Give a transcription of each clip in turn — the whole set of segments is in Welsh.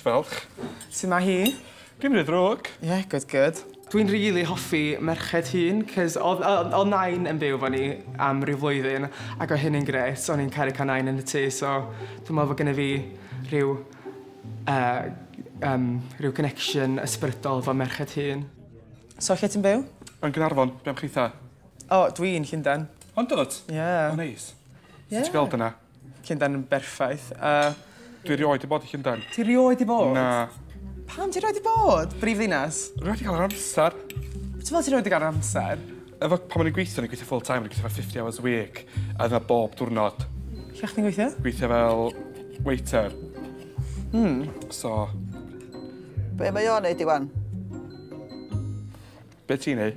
Diolch. Su' ma' hi? Dim rhy ddrwg. Ie good good. Dwi'n rili hoffi merched hŷn 'c'os odd yy odd Nain yn byw 'fo ni am ryw flwyddyn ac o' hynny'n grêt o'n i'n caru ca'l Nain yn y tŷ so dwi me'wl bo' gynno fi rhyw yy yym rhyw connection ysbrydol 'fo merched hŷn. So lle ti'n byw? Yn Gnarfon. Be' am chitha? O dwi'n Llunden. Ond dwt? Ie. O neis. Ie. Sut ti gweld yna? Llundain yn berffaith. Yy. Dwi erioed 'di bod i Llundain. Ti erioed 'di bod? Na. Pam ti erioed 'di bod? Brif ddinas. Rwy wedi cael yr amser. Be' ti'n me'wl ti rioed 'di ga'l yr amser? Efo pan o'n i'n gweithio o'n i'n gweithio full time o'n i'n gweithio fatha fifty hours a week a dyna bob diwrnod. Lle o' chdi'n gweithio? Gweithio fel waiter. Hmm. So. Be' mae o'n neud Iwan? Be' ti'n neu'?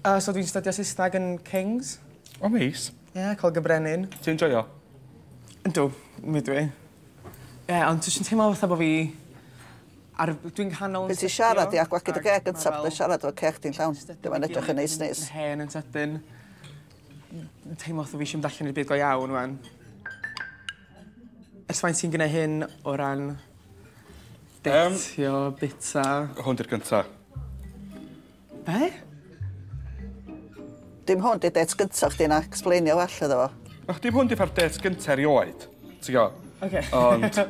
Yy so dwi'n stydio Saesneg yn Kings. O neis. Ie, col gy brenin. Ti'n joio? Yndw. Mi ydw i. Ie, ond dwi jyst yn teimlo fatha bo' fi ar y... Dwi'n nghanol yn setio... Be' ti siarad ia? Gwag i dy geg gynta pe bai siarad efo ceg di'n llawn. Dyw e'n edrych yn neis neis. Hen yn sydyn. Yn teimlo fatha fi isio mynd allan i'r byd go iawn ŵan. Ers faint ti'n gneud hyn o ran deitio, bita? Hwn 'di'r gynta. Be? Dim hwn di dates gynta chdi na explainio well iddo fo. Och dim hwn di ffa'r dates gynta erioed. Ti'n go? Okay. Ond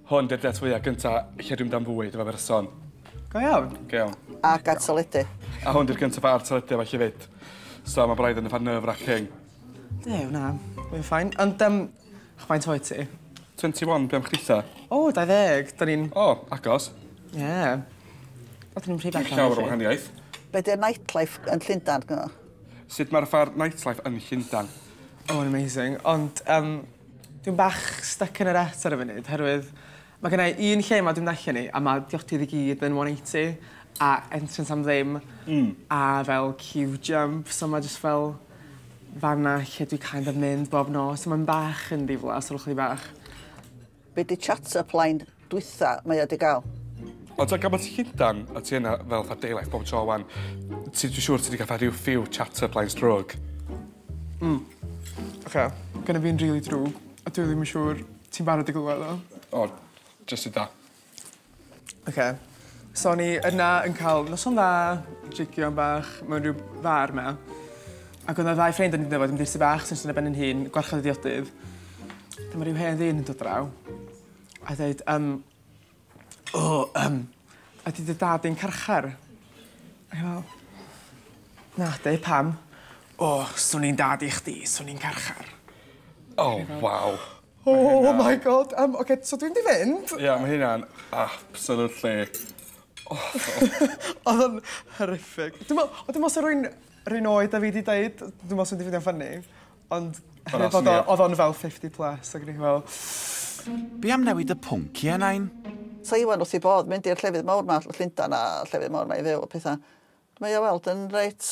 hwn di'r dates fwyaf gynta lle dwi'n dan fwyd efo berson. Go iawn. Go iawn. A gad teledu. A hwn di'r gyntaf ar teledu efo chi fyd. So mae braidd yn y fan nerve wracking. Dew, na. Mae'n ffain. Ond, um, chwain toi ti? 21, beth am chdi O, 20. Da ni'n... O, agos. Ie. Yeah. Oeddwn i'n rhy bell Dim llawer o wahaniaeth. Be di'r nightlife yn Llundan gyno? Sut mae'r ffair nightlife yn Llundan? Oh, yn amazing. Ond um, dwi'n bach stuck yn yr et ar y funud, herwydd mae gen i un lle mae dwi'n allan ni, a mae diotydd i gyd yn 180, a entrance am ddim, mm. a fel cube jump, so mae jyst fel fanna lle dwi kind of mynd bob nos, so mae'n bach yn ddiflas, olwch chi bach. Be di chat up line dwytha mae o di gael? Ond ti'n gymaint Llundan a ti yna fel fatha daylife bob tro wan. Ti, dwi'n siŵr ti wedi cael rhyw few chat up lines drwg. Mm. Oce, gynna fi'n rili drwg a dwi ddim yn siŵr ti'n barod i glywed o. O, jyst i da. Ok, so o'n i yna yn cael noson dda, jygio bach mewn rhyw far 'ma. Ac oedd 'na ddau ffrind o'n i'n dyfod yn ddi-sy bach sy'n ystod ar ben yn hun, gwarchod y diodydd. Dyma rhyw hen ddyn yn dod draw a dweud, um, o, um, ydy dy dad i'n carchar? Ac fel, na, dweud pam? O, swn i'n dad i chdi, swn i'n carchar. O, waw. Oh my God yym oce so dwi mynd i fynd. Ie ma' hynna'n absolutely awful. Odd o'n horrific. Dwi me'wl o dwi me'wl sa rywun 'r un oed â fi 'di deud dwi me'wl sa mynd i ffindio funny ond oherwydd bod o odd o'n fel fifty plus ag o'n i fel Be' am newid y pwnc i enain? Sa Iwan wrth 'i bodd mynd i'r llefydd mowr 'ma, Llundan a llefydd mowr 'ma i fyw a petha. Mae o weld yn reit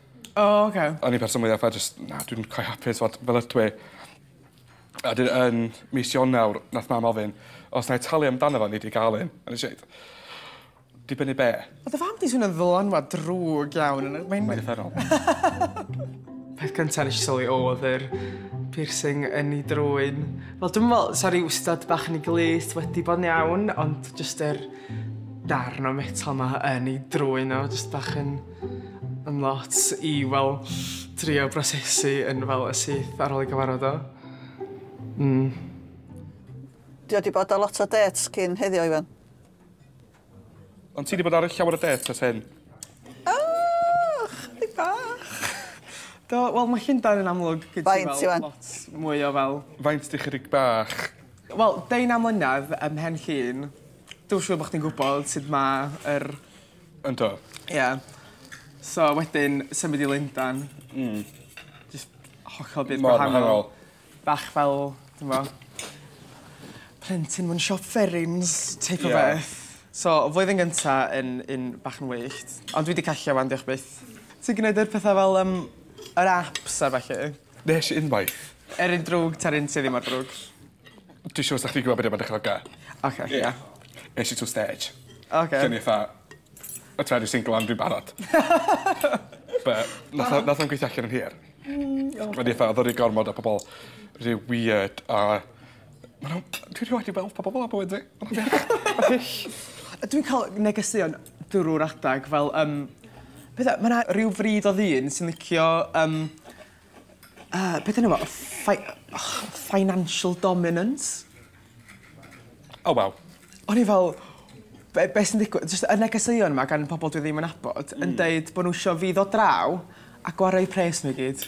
O oce. O'n i person mwya fatha jyst na dwi'm cweit hapus t'mod fel ydw i. A 'dyn yn mis Ionawr nath mam ofyn os 'nai talu amdano fo o'n i 'di ga'l un a nesh i ddeud dibynnu be'? Ma' dy fam di swnio'n ddylanwad drwg iawn yn y mae'n... Mae'n uffernol. Peth cynta nesh i sylwi o'dd yr piercing yn 'i drwyn. Wel dwi'm yn me'wl sa ryw stud bach yn 'i glust wedi bo'n iawn ond jyst yr darn o metal 'ma yn 'i drwyn o jyst bach yn... yn lot i fel trio brosesu yn fel y syth ar ôl i gyfarfod o. Mm. Dio wedi bod ar lot o dates cyn heddiw, Iwan. Ond ti wedi bod ar llawer o dates as hyn? Oh, chdi bach. Do, wel mae Llundain yn amlwg gyda Faint, fel Iwan? lot mwy o fel... Faint di chydig bach? Wel, deunaw mlynedd ym mhen llun. Dwi'n siŵr bod chdi'n gwybod sut mae yr Yndw. Ie. So wedyn symud i Lundan. Hmm. Jyst hollol byd gwahanol. Mor wahanol. Bach fel t'mo' plentyn mewn siop fferins teip o beth. Ie. So flwyddyn gynta yn yn bach yn wyllt. Ond dwi 'di ca'l lle 'wan diolch byth. Ti'n gneud yr petha fel yym yr aps a ballu? Nes unwaith. Er yn drwg ta'r un sy ddim mor drwg. Dwi siŵr sa chdi'n gwbo be' 'di o ma'n dychmyga. Oce ie. Es i trw stêj. Oce. O'n i fatha o t'mod dwi single ond dwi'n barod. But nath o nath o'm gweithio allan yn hir. Hmm oce. O'n i fatha odd o ry gormod o pobol ry wierd a Ma' n'w... Dwi rioed 'di weld pobol fel 'a bywyd fi. Ma' n'w wych. Hyll. A dwi'n ca'l negeseuon drw'r adag fel yym petha ma' 'na ryw frid o ddyn sy'n licio yym yy beth 'di enw fo y ffei- och financial dominance. O waw. O'n i fel be' be' sy'n digwydd? Jyst y negeseuon 'ma gan pobol dwi ddim yn nabod yn deud bo' n'w isio fi ddod draw a gwario 'u pres n'w i gyd.